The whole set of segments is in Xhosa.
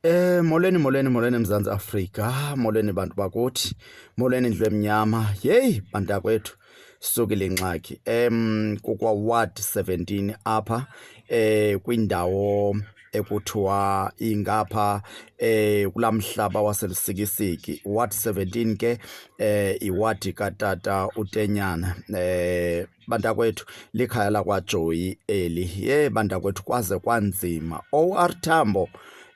Eh molweni molweni molweni Mzantsi Afrika, molweni bantu bakuthi, molweni indlu emnyama. Yeyi bantakwethu sisukile ingxaki. Em kukwa ward 17 apha eh kwindawo ekuthiwa ingapha eh kulamhlaba waselusikisiki ward 17 ke eh iwadi katata uTenyana eh bantakwethu likhaya lakwajoyi eli ye bantakwethu kwaze kwanzima or tambo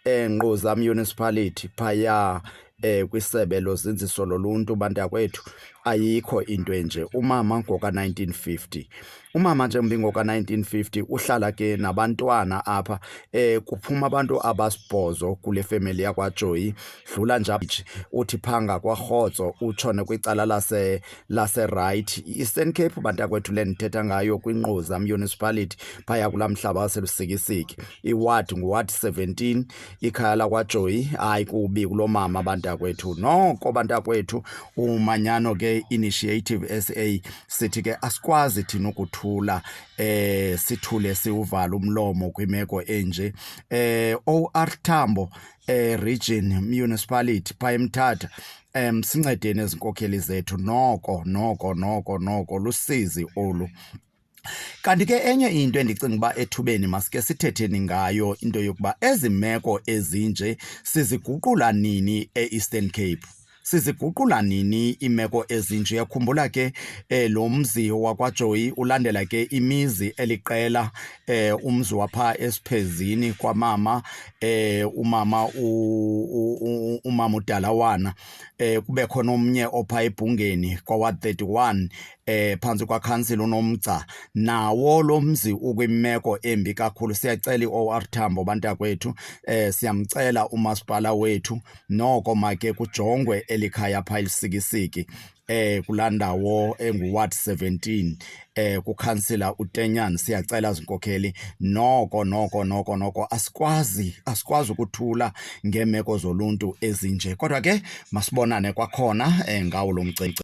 engquza municipality phaya eh kwisebe lozinziso loluntu bantakwethu ayikho into enje umama ngoka 1950 umama nje mbi ngoka 1950 uhlala ke nabantwana apha eh kuphuma abantu abasibhozo kule family yakwaJoy dlula nje uthi phanga kwaRhotso utshone kwicala lase laserayithi i-eastern cape bantakwethu le ndithetha ngayo kwinquza municipality phaya kulaa mhlaba waselusikisiki iwadi nguwadi 17 ikhaya lakwajoyi hayi kubi kuloo mama bantakwethu noko bantakwethu umanyano ke initiative sa sithi ke asikwazi thina ukuthula eh sithule siwuvala umlomo kwimeko enje eh or thambo eh, region municipality phaa emthatha um sincedeni ezinkokheli zethu noko noko noko noko lusizi olu Kanti ke enye into endicinga uba ethubeni masike sithetheni ngayo into yokuba ezi meko ezinje siziguqula nini e-Eastern Cape. siziguqula nini iimeko ezinje khumbula ke eh, lo mzi wakwajoyi ulandela ke imizi eliqela eh, umzi wapha esiphezini kwamama eh, umama umama udalawana eh, kube khona omnye opha ebhungeni kwaward 31 eh phansi kwakhansila unomgca nawo lo mzi ukwimeko embi kakhulu siyacela i-or tambo bantakwethu eh siyamcela umasipala wethu noko make kujongwe eli khaya phaa elisikisiki eh kulaa ndawo enguward 17 eh kukhansila utenyan siyacela zinkokheli noko noko noko noko asikwazi asikwazi ukuthula ngeemeko zoluntu ezinje kodwa ke masibonane kwakhona eh, ngawo lo mcimbi